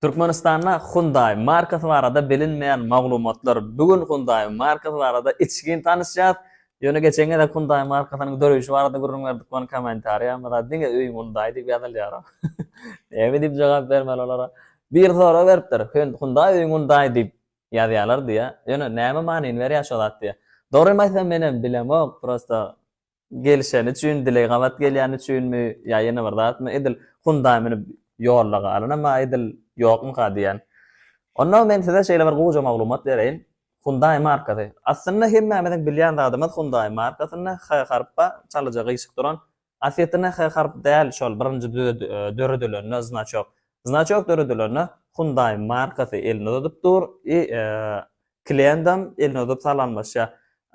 Türkmenistanda Hyundai markasy barada bilinmeýän maglumatlar Bu gün Hyundai markasy barada içgin tanyşýas. Ýöne geçen gezek Hyundai markasynyň döreýşi barada gürrüň berdik we kommentariýamyzda diňe öýüň Hyundai diýip ýazylýar. Näme diýip jogap bermeli olara? Bir sorag beripdir, Hyundai öýüň Hyundai diýip ýazýarlar diýýär. Ýöne näme manyny berýär şo zat diýýär. Dogrymy aýtsam menem bilemok, prosta Gelişeni üçin, dileý gabat gelýäni üçinmi ýa ýene bir zatmy, edil Hyundai münüp ýolda galanam-a edil ýokmyka diýýän. Onda men size şeýle bir goja maglumat bereýin. Hyundai markasy. Aslynda hemmämiziň bilýän zadymyz Hyundai markasynda H harp bar, çalyja gyýşyk duran. Aslyýetinde H harp däl şol birinji döredilende znaçok. Znaçok döredilende Hyundai markasy elini uzadyp dur i Klientam elini uzup salamlaşýar.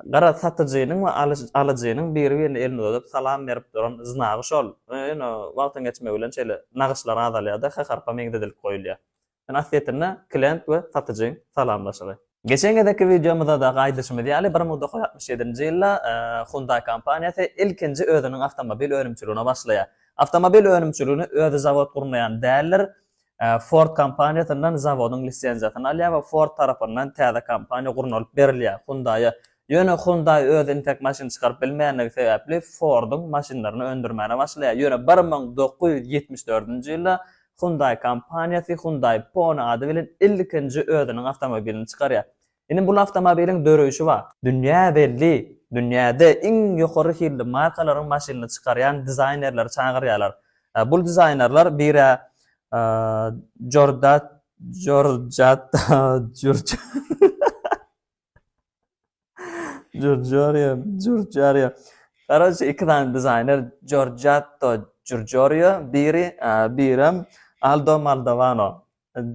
Garaz, satyjynyň we alyjynyň biri-birine elini uzadyp salam berip duran znagy şol. Ýöne wagtyň geçmegi bilen şeýle nagyşlar azalýar-da, H-harpa meňzedilip goýulýar. Ýöne aslyýetinde klient we satyjyň salamlaşygy. Geçen gezekki wideomyzda-da aýdyşymyz ýaly, bir müň dokuz ýüz altmyş ýedinji ýylda Hyundai kompaniýasy ilkinji özüniň awtomobil önümçiligine başlaýar. Awtomobil önümçiligini özi zawod gurnaýan däldir. Ford kompaniýasyndan zawodyň lisenziýasyny alýar we Ford tarapyndan täze kompaniýa gurnalyp berilýär, Hyundai-a. Ýöne Hyundai öz entek maşyny çykaryp bilmeýändigi sebäpli Ford-yň maşynlaryny öndürmäne başlaýar. Ýöne bir müň dokuz ýüz ýetmiş dördünji ýylda Hyundai kompaniýasy Hyundai Pony ady bilen ilkinji özüniň awtomobilini çykarýar. Ine bul awtomobiliň döreýşi bar. Dünýä belli, dünýäde iň ýokary hilli markalaryň maşynyny çykarýan dizaýnerleri çagyrýarlar. Bul dizaýnerler bir-ä Jordat Jorjat Jurj Jurjorýo Jurjorýo Garoçe iki sany dizaýner Jorjatto Jurjorýo biri birem Aldo Maldovano.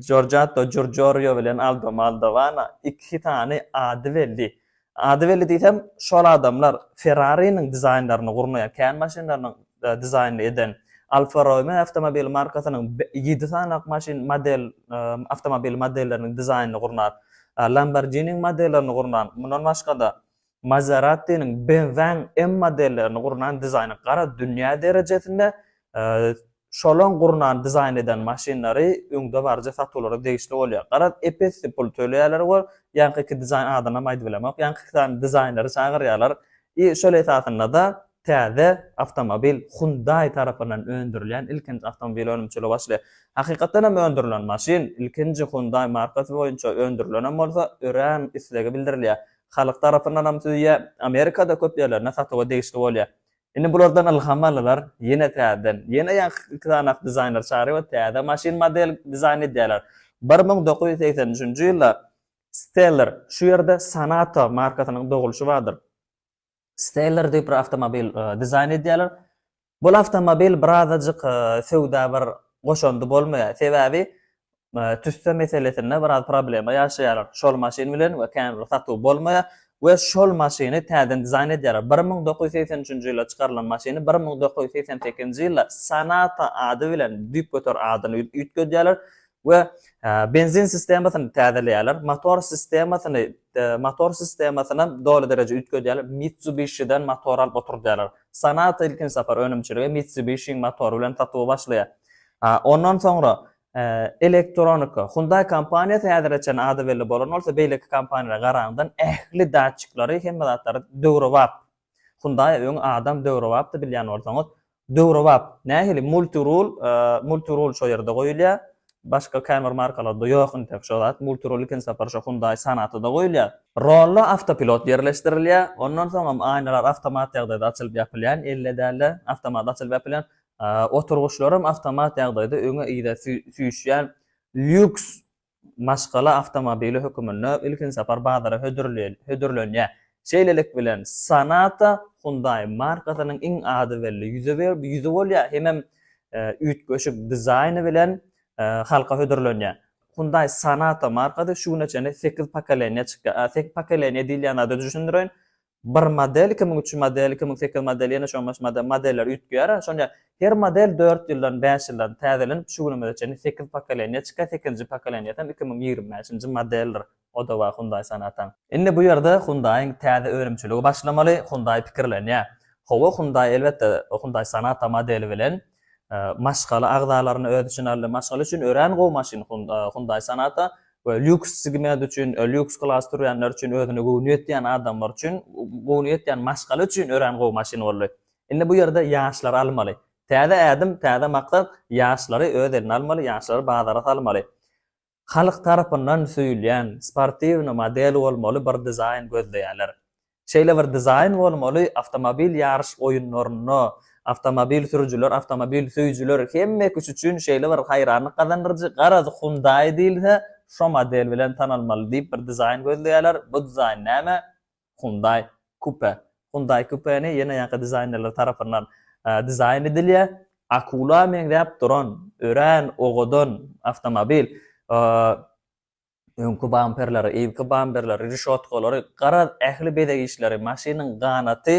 Jorjato Jorjorio bilen Aldo Maldovana iki sany ady belli. Ady belli diýsem, şol adamlar Ferrari-niň dizaýnlaryny gurnaýan, kän maşynlarynyň dizaýnyny eden, Alfa Romeo awtomobil markasynyň ýedi sany maşyn model awtomobil modelleriniň dizaýnyny gurnan, Lamborghini-niň modellerini gurnan, mundan başga-da, Maserati-niň, BMW-niň M modellerini gurnan dizaýny gara dünýä derejesinde şolaň gurnan dizaýn eden maşynlary öňdebaryjy satuwlara degişli bolýar. Garaz, ep-esli pul töleýärler we ýaňky iki dizaýn adynam aýdyp bilemok, ýaňky iki sany dizaýnlary çagyrýarlar. I şol esasynda-da täze awtomobil Hyundai tarapyndan öndürilýän ilkinji awtomobil önümçiligi başlaýar. Hakykatdan hem öndürilen maşyn ilkinji Hyundai markasy boýunça öndürilenem bolsa, örän islegi bildirilýär. Halk tarapyndanam süýe Amerikada köp ýerlerinde satuwa degişli bolýar. Indi bulardan ylham aldylar, ýene täzeden, ýene ýaňky iki sany ak dizaýner çagyryp we täze maşyn model dizaýn edýärler. Bir müň dokuz ýüz segsen üçünji ýylda Stellar, şu ýerde Sonata markasynyň dogulşy bardyr. Stellar diýip bir awtomobil dizaýn edýärler. Bul awtomobil birazajyk söwda bir goşandy bolmaýar. Sebäbi tüsse meselesinde biraz problema ýaşaýarlar. Şol maşyn bilen we kän bir satuw bolmaýar we şol maşyny täzeden dizaýn edýärler. Bir müň dokuz ýüz segsen üçünji ýylda çykarylan maşyny bir müň dokuz ýüz segsen sekizinji ýylda Sonata ady bilen düýp göter adyny üýtgedýärler we benzin sistemasyny täzeleýärler. Motor sistemasyny Motor sistemasynam doly dereje üýtgedýärler. Mitsubishi-den motor alyp oturdýarlar. Sonata ilkinji sapar önümçiligi Mitsubishi-niň motory bilen satuwa başlaýar. Ondan soňra elektronika. Hyundai kompaniýasy häzire çenli ady belli bolan bolsa, beýleki kompaniýalara garaňdan ähli datçiklary, hemme zatlary döwrebap. Hyundai öň adam döwrebapdy bilýän bolsaňyz. Döwrebap nähili multirul multirul şo ýerde goýulýar başga kämir markalarda ýok intek şo zat multirul ikinji sapar şo hundai sonata da goýulýar. Rolla awtopilot ýerleşdirilýär ondan soňam aýnalar awtomat ýagdaýda açylyp ýapylýan elle dälde awtomat açylyp ýapylýan oturgyçlaram awtomat ýagdaýda öňe yza süýşýän lýuks maşgala awtomobili höküminde ilkinji sapar bazara hödürlenýär. Şeýlelik bilen, Sonata Hyundai markasynyň iň ady belli ýüzi bolýar hemem üýtgeşik dizaýny bilen halka hödürlenýär. Hyundai Sonata markasy şu güne çenli sekiz pokoleniýa çykýar. Sekiz pokoleniýa diýilýän zady düşündireýin. bir model, iki müň üç ýüz model, iki müň sekiz ýüz model, ýene şoňa meňzeş model, modeller üýtgeýär, şonda her model dört ýyldan, bäş ýyldan täzelenip, şu günümize çenli sekiz pokoleniýa çykýar, sekizinji pokoleniýasam iki müň ýigrimi bäşinji modeldir, o-da bar Hyundai Sonata-nyň. Indi bu ýerde Hyundai-nyň täze önümçiligi başlamaly, Hyundai pikirlenýär. Hawa, Hyundai, elbetde, Hyundai Sonata modeli bilen maşgala agzalaryny öz içine aldy. Maşgala üçin örän gowy maşyn Hyundai Sonata we lýuks segment üçin, lýuks klas sürýänler üçin, özüne göwni ýetýän adamlar üçin, göwni ýetýän maşgala üçin örän gowy maşyn boldy. Indi bu ýerde ýaşlary almaly. Täze ädim, täze maksat, ýaşlary öz eline almaly, ýaşlary bazara salmaly. halk tarapyndan söýülýän sportiwny model bolmaly bir dizaýn gözleýärler. Şeýle bir dizaýn bolmaly awtomobil ýaryş oýunlarynda awtomobil sürüjiler, awtomobil söýüjiler hemmekiş üçin şeýle bir haýranlyk gazandyryjy, garaz Hyundai diýilse şo model bilen tanalmaly diýip bir dizaýn gözleýärler, bu dizaýn näme? Hyundai Coupe. Hyundai Coupe-ni ýene ýaňky dizaýnerler tarapyndan dizaýn edilýär. Akula meňzäp duran, örän owadan awtomobil. Öňki bamperleri, yzky bamperleri, reşotkalary, garaz, ähli bezeg işleri, maşynyň ganaty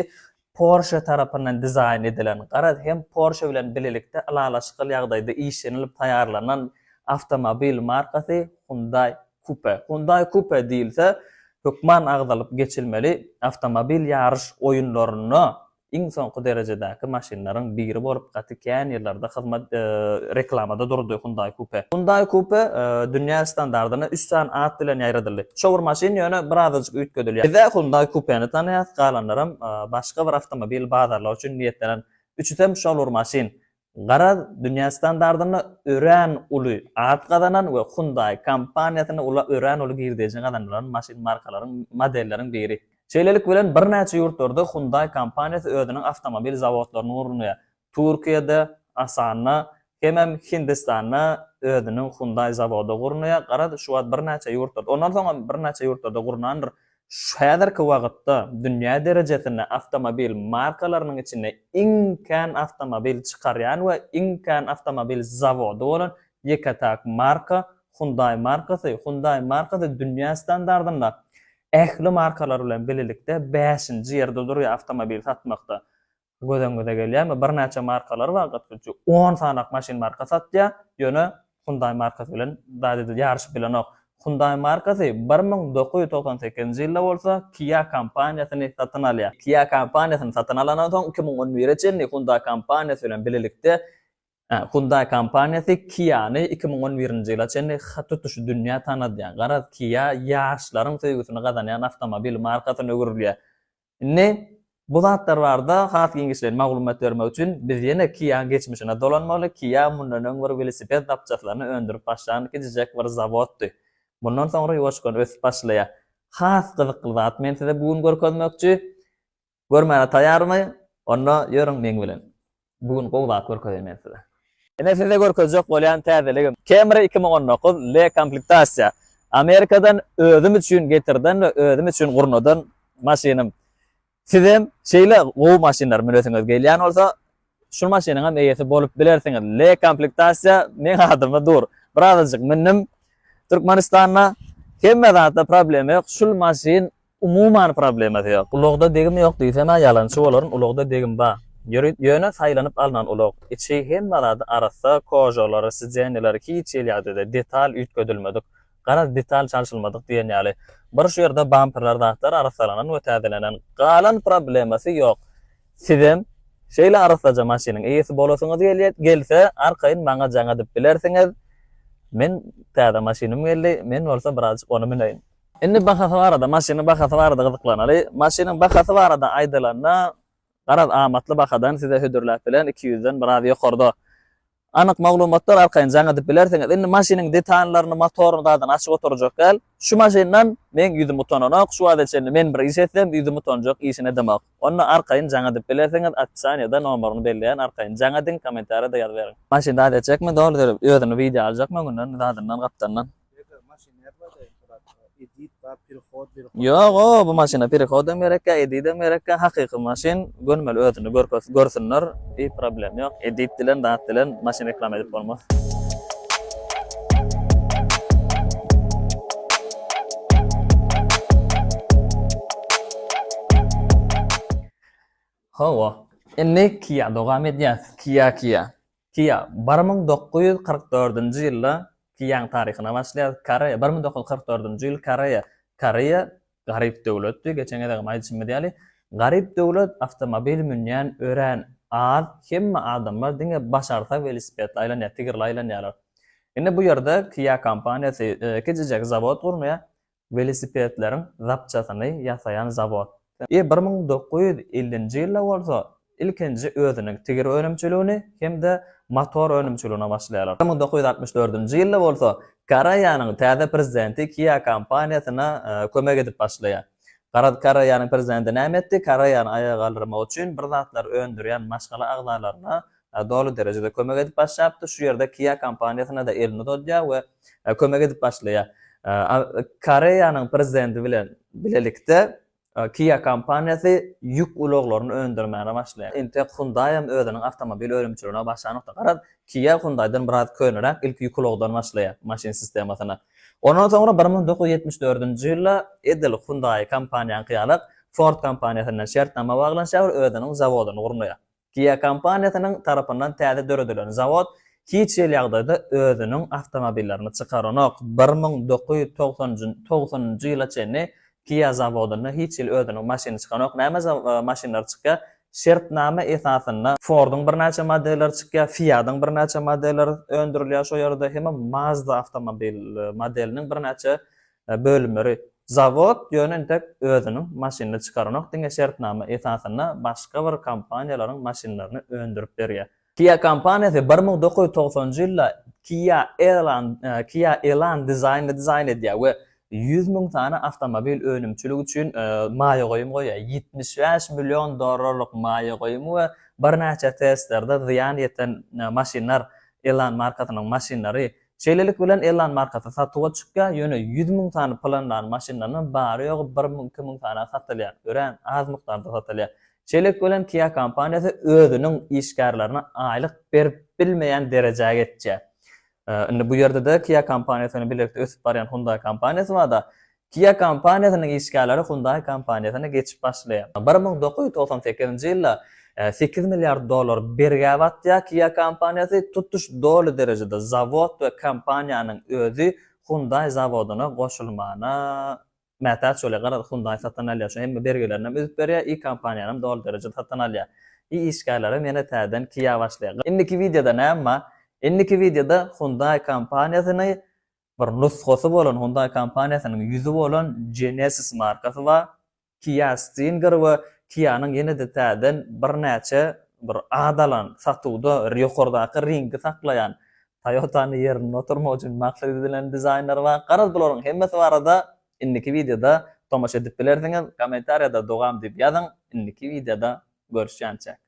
Porsche tarapyndan dizaýn edilen, garaz hem Porsche bilen bilelikde ylalaşykly ýagdaýda işlenilip taýýarlanan awtomobil markasy Hyundai Coupe. Hyundai Coupe diýilse, hökman agzalyp geçilmeli awtomobil ýaryş oýunlarynda iň soňky derejedäki maşynlaryň biri bolup gaty Kän ýyllarda hyzmat reklamada durdy Hyundai Coupe. Hyundai Coupe dünýä standardyna üç sany at bilen ýaýradyldy. Şo bir maşyn ýöne birazajyk üýtgedilýär. Biz-ä Hyundai Coupe-ni tanaýas, galanlaram başga bir awtomobil bazarlygy üçin niýetlenen. Üçüsem şol bir maşyn. Garaz, dünýä standardynda örän uly at gazanan we Hyundai kompaniýasyna örän uly girdeji gazandyran maşyn markalaryň, modelleriň biri. Şeýlelik bilen, birnäçe ýurtlarda Hyundai kompaniýasy özüniň awtomobil zawodlaryny gurnaýar. Türkiýede, Asanda, hemem Hindistanda özüniň Hyundai zawody gurnaýar. Garaz, şu wagt birnäçe ýurtlarda, ondan soň hem birnäçe ýurtlarda gurnandyr. Häzirki wagtda dünýä derejesinde awtomobil markalarynyň içinde iň kän awtomobil çykarýan we iň kän awtomobil zawody bolan Ýeke-täk marka Hyundai markasy. Hyundai markasy dünýä standartynda ähli markalar bilen bilelikde bäşinji ýerde durýar awtomobil satmakda. Gözüňize gelýärmi? Birnäçe markalar bar, gatgujy on sanyk maşyn marka satýar, ýöne Hyundai markasy bilen zat edil ýaryşyp bilenok. Hyundai markasy bir müň dokuz ýüz togsan sekizinji ýylda bolsa Kia kompaniýasyny satyn alýar. Kia kompaniýasyny satyn alandan soň iki müň on bire çenli Hyundai kompaniýasy bilen bilelikde Hyundai kompaniýasy Kia-ny iki müň on birinji ýyla çenli hat tutuşy dünýä tanadýar. Garaz, Kia ýaşlaryň söýgüsini gazanýan awtomobil markasyna öwrülýär. Indi bu zatlar barada has giňişleýin maglumat bermek üçin, biz ýene Kia-nyň geçmişine dolanmaly. Kia mundan öň bir welosiped zapçaslaryny öndürip başlan kiçijek bir zawoddy. Mundan soňra ýuwaşkan ösüp başlaýar. Has gyzykly zat men size bu gün görkezmekçi. Görmäne taýarmy? Onda ýörüň meň bilen. Bu gün gowy zat görkezeýin men size. Ine size görkezjek bolýan täzeligim. Camry iki müň on dokuz L komplektasiýa. Amerikadan özüm üçin getirden we özüm üçin gurnadan maşynym. Sizem şeýle gowy maşynlary münesiňiz gelýän bolsa, Şu maşynyňam eýesi bolup bilersiňiz. L komplektasiýa meň adyma dur. Bir azajyk mündim Türkmenistanda. Hemme zatda problema ýok. Şul maşyn umuman problemasy ýok. Ulagda degim ýok diýsem-ä ýalançy bolaryn. Ulagda degim bar. Ýöne saýlanyp alnan ulag. Içi hemme zady arassa, kožalary, sideniýalar hiç hili ýagdaýda, detal üýtgedilmedik. Garaz detal çalşylmadyk diýen ýaly. Bir şu ýerde bamperler zatlar arassalanan we täzelenen. Galan problemasy ýok. Sizem şeýle arassaja maşynyň eýesi bolasyňyz gelýär, gelse arkaýyn maňa jaň edip bilersiňiz. Men täze maşynym geldi, men bolsa birazjyk ony müneýin. Indi bahasy barada, maşynyň bahasy barada gyzyklanaly. Maşynyň bahasy barada aýdylanda, garaz amatly bahadan size hödürläp bilen iki ýüzden biraz ýokarda. Anyk maglumatlar arkaýyn jaň edip bilersiňiz. Indi maşynyň detallaryny, motoryny zadam açyp oturjak däl. Şu maşyndan meň ýüzüm utananok, şu wagta çenli men bir iş etsem ýüzüm utanjak işini edemok. Onda arkaýyn jaň edip bilersiňiz, opisaniýada nomeryny belleýän arkaýyn jaň ediň, kommentariýada ýazyberiň. Maşyn zat etjekmi, doly derip özüni wideo aljakmy öňünden, zadyndan, gapdandan. Ýok o bu maşyna perehod hem gerekkä edit hem gerekkä hakyky maşyn gönmeli özüni görsünler i problem ýok edit dilen zat dilen maşyn reklama edip bolmaz. Hawa indi kia dogam edýäs kia kia. Kia, bir müň dokuz ýüz kyrk dördünji ýylda Kiaň taryhyna başlaýarys. Koreýa, bir müň dokuz ýüz kyrk dördünji ýyl, Koreýa. Koreýa garyp döwletdi. Geçen gezegem aýdyşymyz ýaly, garyp döwlet, awtomobil münýän örän az, hemme adamlar diňe başarsa welosipedli aýlanýar, tigirli aýlanýarlar. Indi bu ýerde Kia kompaniýasy kiçijek zawod gurnaýar. welosipedleriň zapçasyny ýasaýan zawod. Ýa bir müň dokuz ýüz ellinji ýylda bolsa ilkinji özüniň tigir önümçiligini hem-de motor önümçiligine başlaýarlar. Bir müň dokuz ýüz altmyş dördünji ýylda bolsa Koreýanyň täze prezidenti Kia kompaniýasyna kömek edip başlaýar. Garaz, Koreýanyň prezidenti näme etdi? Koreýany aýaga galdyrmak üçin bir zatlar öndürýän maşgala agzalaryna doly derejede kömek edip başlapdyr. Şu ýerde Kia kompaniýasyna-da elini uzadýar we kömek edip başlaýar. Koreýanyň prezidenti bilen bilelikde Kia kompaniýasy ýük ulaglaryny öndürmäne başlaýar. Entek Hyundai hem özüniň awtomobil önümçiligine başlanokda. Garaz, Kia Hyundai'den biraz köneräk ilki ýük ulagdan başlaýar maşyn sistemasyna. Ondan soňra bir müň dokuz ýüz ýetmiş dördünji ýylda edil Hyundai kompaniýaňky ýaly Ford kompaniýasy bilen şertnama baglanşýar we özüniň zawodyny gurnaýar. Kia kompaniýasynyň tarapyndan täze döredilen zawod hiç hili ýagdaýda özüniň awtomobillerini çykaranok. Bir müň dokuz ýüz togsan njy ýyla çenli Kia zawodynda hiç hili özüniň maşyny çykanok. Näme maşynlary çykýar? Şertnama esasynda Ford-yň birnäçe modelleri çykýar, Fiat-yň birnäçe modelleri öndürilýär şo ýerde, hem-ä Mazda awtomobil modeliniň birnäçe bölümleri. Zawod ýöne entek özüniň maşynyny çykaranok, diňe şertnama esasynda başga bir kompaniýalaryň maşynlaryny öndürip berýär. Kia kompaniýasy bir müň dokuz ýüz togsanjy ýylda Kia Elan Kia Elan dizaýnyny dizaýn edýär we ýüz müň sany awtomobil önümçiligi üçin maýa goýum goýýar. Ýetmiş bäş million dollarlyk maýa goýumy we birnäçe testlerde zyýan ýeten maşynlar Elan markasynyň maşynlary Şeýlelik bilen Elon markasy satuwa çykýar, ýöne ýüz müň sany planlary maşynlarynyň bary-ýogy bir müň-iki müň sany satylýar, örän az mukdarda satylýar. Şeýlelik bilen Kia kompaniýasy özüniň işgärlerine aýlyk berip bilmeýän derejä geçýär. Indi bu ýerde-de Kia kompaniýasy bilen bilelikde ösüp barýan Hyundai kompaniýasy bar-da, Kia kompaniýasynyň işgärleri Hyundai kompaniýasyna geçip başlaýar. Bir müň dokuz ýüz togsan sekizinji ýylda sekiz milliard dollar bergä batýar Kia kompaniýasy, tutuş doly derejede zawod we kompaniýanyň özi Hyundai zawodyna goşulmana mätäç bolýar. Garaz, Hyundai satyn alýar, şu hemme bergilerini hem üzüp berýär i kompaniýany hem doly derejede satyn alýar. I işgärler hem ýene täzeden Kia başlaýar. Indiki wideoda näme bar? Indiki wideoda Hyundai kompaniýasyny bir nusgasy bolan Hyundai kompaniýasynyň ýüzi bolan Genesis markasy bar. Kia Stinger we Kia-nyň ýene-de täzeden birnäçe bir at alan, satuwda ýokardaky ringi saklaýan, Toyota-ny ýerinde oturmak üçin maksat edilen dizaýnlary bar. Garaz, bularyň hemmesi barada indiki wideoda tomaşa edip bilersiňiz. Kommentariýada dogam diýip ýazyň. Indiki wideoda görüşýänçäk.